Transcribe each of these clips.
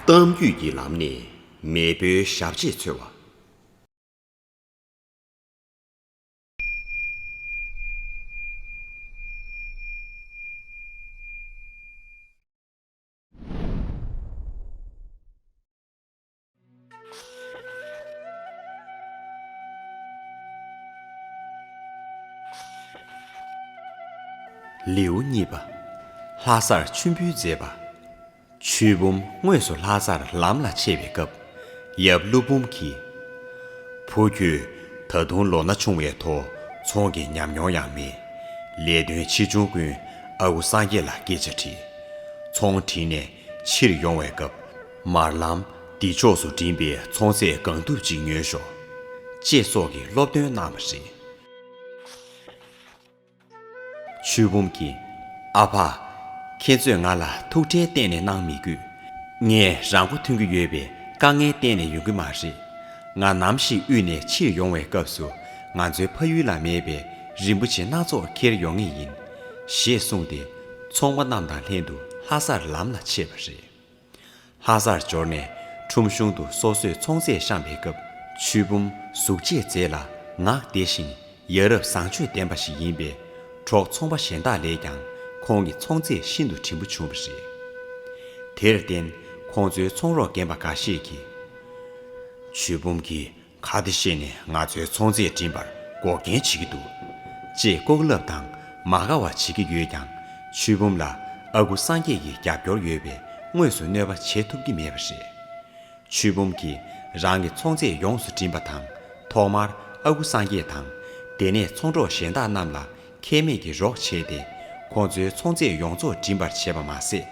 གཏམ་རྒྱུད་ཀྱི་ལམ་ནས་མེས་པོའི་ཞབས་རྗེས་འཚོལ་བ། ལེའུ་གཉིས་པ། ལྷ་སར་མཆོད་འབུལ་མཛད་པ། ཆོས་འབུམ་དངོས་སུ་ལྷ་སར་ལམ་ལ་ཆས་པའི་སྐབས་ཡབ་ཀླུ་འབུམ་གྱིས། བུ་ཁྱོད་ད་དུང་ལོ་ན་ཆུང་བས་ཐོ་ཚོང་གི་ཉམས་མྱོང་ཡང་མེད། ལས་དོན་ཆེ་ཆུང་ཀུན་ཨ་ཁུ་སངས་རྒྱས་ལ་སྐད་ཆ་དྲིས། ཚོང་བྲིས་ནས་ཕྱིར་ཡོང་བའི་སྐབས། མར་ལམ་འདི་ཕྱོགས་སུ་འགྲིམས་པའི་ཚོང་ཟས་གང་ཐུབ་ཅིག་ཉོས་ཤོག། ཅེས་སོགས་ཀྱི་སློབ་སྟོན་གནང་བ་རེད། ཆོས་འབུམ་གྱིས། ཨ་ཕ། ཁྱེད་ཚོས་ང་ལ་ཐུགས་ཁྲལ་གཏན་ནས་གནང་མི་དགོས། ངས་རང་མགོ་ཐོན་གྱི་ཡོད་པས་དཀའ་ངལ་གཏན་ནས་ཡོང་གི་མ་རེད། ང་ནམ་ཞིག་དབུས་ནས་ཕྱིར་ཡོང་བའི་སྐབས་སུ་ང་ཚོའི་ཕ་ཡུལ་ལ་མེད་པའི་རིན་པོ་ཆེ་སྣ་ཚོགས་འཁྱེར་ཡོང་ངེས་ཡིན། ཞེས་གསུངས་ཏེ། ཚོང་པ་རྣམས་དང་ལྷན་དུ་ལྷ་སར་ལམ་ལ་ཆས་པ་རེད། ལྷ་སར་འབྱོར་ནས་ཁྲོམ་གཞུང་དུ་སོ་སོས་ཚོང་རྫས་བཤམས་པའི་སྐབས་ཆུ་བུམ་གཟུགས་བྱད་མཛེས་ལ་ངག་བདེ་ཞིང་ཡ་རབས་བཟང་སྤྱོད་ལྡན་པ་ཞིག་ཡིན་པས་གྲོགས་ཚོང་པ་གཞན་དག་ལས་ཀྱང་ཁོང་གི་ཚོང་རྫས་ཤིན་ཏུ་བྲིན་པོ་བྱུང་བ་རེད། དེར་བརྟེན་ཁོང་ཚོའི་ཚོང་རོགས་རྒན་པ་འགའ་ཤས་ཀྱིས། ཆུ་བུམ་གྱིས་ཁ་བདེ་བཤད་ནས་ང་ཚོའི་ཚོང་རྫས་བྲིན་པར་འགོག་རྐྱེན་བྱེད་ཀྱི་འདུག། ཅེས་ལྐོག་ལབ་དང་མ་དགའ་བ་བྱེད་ཀྱི་ཡོད་ཀྱང་ཆོས་འབུམ་ལ་ཨ་ཁུ་སངས་རྒྱས་ཀྱི་རྒྱབ་སྐྱོར་ཡོད་པས་དངོས་སུ་གནོད་པ་བྱེད་ཐུབ་ཀྱི་མེད་པ་རེད། ཆོས་འབུམ་གྱིས་རང་གི་ཚོང་རྫས་ཡོངས་སུ་བྲིན་པ་དང་ཐོག་མར་ཨ་ཁུ་སངས་རྒྱས་དང་དེ་ནས་ཚོང་གྲོགས་གཞན་དག་རྣམས་ལ་ཁེ་མེད་ཀྱི་རོགས་བྱས་ཏེ་ཁོང་ཚོའི་ཚོང་རྫས་ཡོངས་རྫོགས་བྲིན་པར་བྱས་པ་མ་ཟད།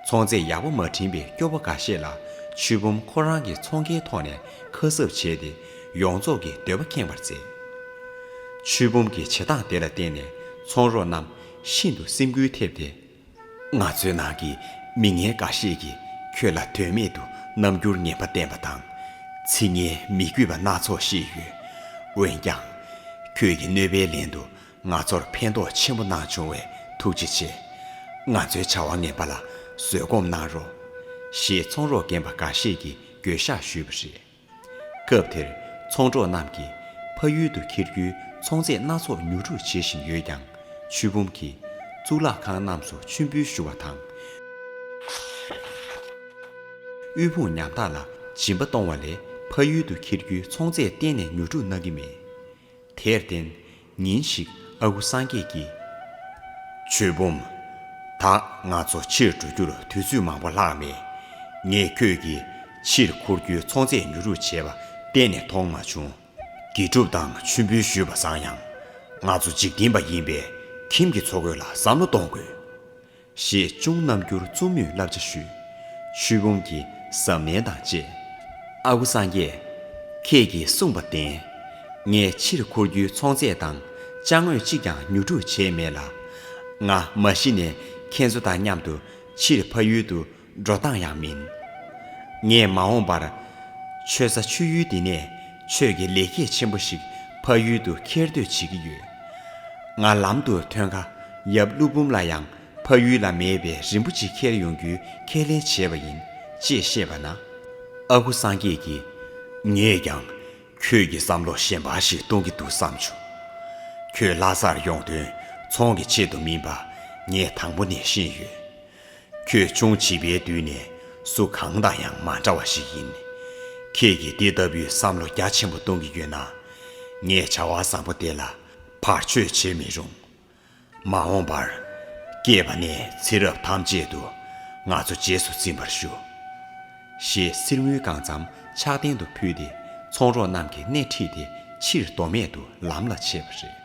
ཚོང་རྫས་ཡག་པོ་མ་བྲིན་པའི་སྐྱོ་བོ་འགའ་ཤས་ལ་ཆུ་བུམ་ཁོ་རང་གི་ཚོང་ཁེའི་ཐོག་ནས་ཁ་གསབ་བྱས་ཏེ་ཡོངས་རྫོགས་ཀྱི་འདོད་པ་ཁེངས་པར་མཛད། ཆུ་བུམ་གྱི་བྱེད་སྟངས་དེ་ལ་བརྟེན་ནས་ཚོང་རོགས་རྣམས་ཤིན་ཏུ་སེམས་འགུལ་ཐེབས་ཏེ། ང་ཚོའི་ནང་གི་མི་ངན་འགའ་ཤས་ཀྱིས་ཁྱོད་ལ་དོན་མེད་དུ་རྣམ་འགྱུར་ངན་པ་བསྟན་པ་དང། ཚིག་ངན་མི་གུས་པ་སྣ་ཚོགས་བཤད་ཡོད། འོན་ཀྱང། ཁྱོད་ཀྱི་གནོད་པའི་ལན་དུ་ང་ཚོར་ཕན་ཐོགས་ཆེན་པོ་གནང་བྱུང་བས་ཐུགས་རྗེ་ཆེ། ང་ཚོའི་བྱ་བ་ངན་པ་ལ་བཟོད་སྒོམ་གནང་རོགས། ཞེས་ཚོང་རོགས་རྒན་པ་འགའ་ཤས་ཀྱིས་འགྱོད་བཤགས་ཞུས་པ་རེད། སྐབས་དེར་ཚོང་གྲོགས་རྣམས་ཀྱིས་ཕ་ཡུལ་དུ་འཁྱེར་རྒྱུའི་ཚོང་རྫས་སྣ་ཚོགས་ཉོ་སྒྲུག་བྱེད་བཞིན་ཡོད་ཀྱང་ཆུ་བུམ་གྱིས་གཙུག་ལག་ཁང་རྣམས་སུ་མཆོད་འབུལ་ཞུ་བ་དང། དབུལ་ཕོངས་ཉམ་ཐག་ལ་སྦྱིན་པ་གཏོང་བ་ལས་ཕ་ཡུལ་དུ་འཁྱེར་རྒྱུའི་ཚོང་རྫས་གཏན་ནས་ཉོ་སྒྲུག་གནང་གི་མེད། དེར་བརྟེན། ཉིན་ཞིག་ཨ་ཁུ་སངས་རྒྱས་ཀྱིས། ཆོས་འབུམ། ད་ང་ཚོ་ཕྱིར་འགྲོ་རྒྱུར་དུས་ཚོད་མང་པོ་ལྷག་མེད། ངས་ཁྱོད་ཀྱིས་ཕྱིར་འཁོར་རྒྱུའི་ཚོང་རྫས་ཉོ་རུ་བྱེད་པ་གཏན་ནས་མཐོང་མ་བྱུང། དགེ་སྒྲུབ་དང་མཆོད་འབུལ་ཞུས་པ་བཟང་ཡང། ང་ཚོ་འཇིག་རྟེན་པ་ཡིན་པས་ཁྱིམ་གྱི་འཚོ་གོས་ལ་བསམ་བློ་གཏོང་དགོས། ཞེས་གཅུང་རྣམ་འགྱུར་རྩུབ་མོས་བསླབ་བྱ་ཞུས། ཆོས་འབུམ་གྱིས་གཟབ་ནན་དང་བཅས། ཨ་ཁུ་སངས་རྒྱས། ཁྱེད་ཀྱིས་གསུངས་པ་བདེན། ངས་ཕྱིར་འཁོར་རྒྱུའི་ཚོང་རྫས་དང་བཅའ་དངོས་གཅིག་ཀྱང་ཉོ་སྒྲུག་བྱས་མེད་ལ། ང་མ་གཞི་ནས་ཁྱེད་ཚོ་དང་མཉམ་དུ་ཕྱིར་ཕ་ཡུལ་དུ་འགྲོ་སྟངས་ཡང་མིན། ངས་མ་འོངས་པར། ཆོས་ས་ཆོས་ཡུལ་འདི་ནས་ཆོས་ཀྱི་ལེགས་སྐྱེས་ཆེན་པོ་ཞིག་ཕ་ཡུལ་དུ་འཁྱེར་འདོད་བྱེད་ཀྱི་ཡོད། ང་ལམ་དུ་ཐོན་ཁ་ཡབ་ཀླུ་འབུམ་ལ་ཡང་ཕ་ཡུལ་ལ་མེད་པའི་རིན་པོ་ཆེ་འཁྱེར་ཡོང་རྒྱུའི་ཁས་ལེན་བྱས་པ་ཡིན། ཅེས་བཤད་པ་ན། ཨ་ཁུ་སངས་རྒྱས་ཀྱིས། ངས་ཀྱང། ཁྱོད་ཀྱི་བསམ་བློ་ཞན་པ་ཞིག་གཏོང་གི་འདུག་བསམ་བྱུང། ཁྱོད་ལྷ་སར་ཡོང་དོན་ཚོང་གི་ཆེད་དུ་མིན་པ་ངས་དང་པོ་ནས་ཤེས་ཡོད། ཁྱོད་ཅུང་བྱིས་པའི་དུས་ནས་སུ་གང་དང་ཡང་མ་འདྲ་བ་ཞིག་ཡིན། ཁྱེད་ཀྱིས་འདི་ལྟ་བུའི་བསམ་བློ་རྒྱ་ཆེན་པོ་གཏོང་གི་ཡོད་ན། ངས་བྱ་བ་བཟང་པོ་དེ་ལ་བར་ཆོད་བྱེད་མི་རུང། མ་འོངས་པར། སྐྱེས་པ་ནས་ཚེ་རབས་ཐམས་ཅད་དུ་ང་ཚོ་རྗེས་སུ་འཛིན་པར་ཞུ། ཞེས་གསེར་དངུལ་གང་བརྩམ་ཕྱག་རྟེན་དུ་ཕུལ་ཏེ་ཚོང་རོགས་རྣམས་ཀྱི་སྣེ་ཁྲིད་དེ་ཕྱིར་མདོ་སྨད་དུ་ལམ་ལ་ཆས་པ་རེད།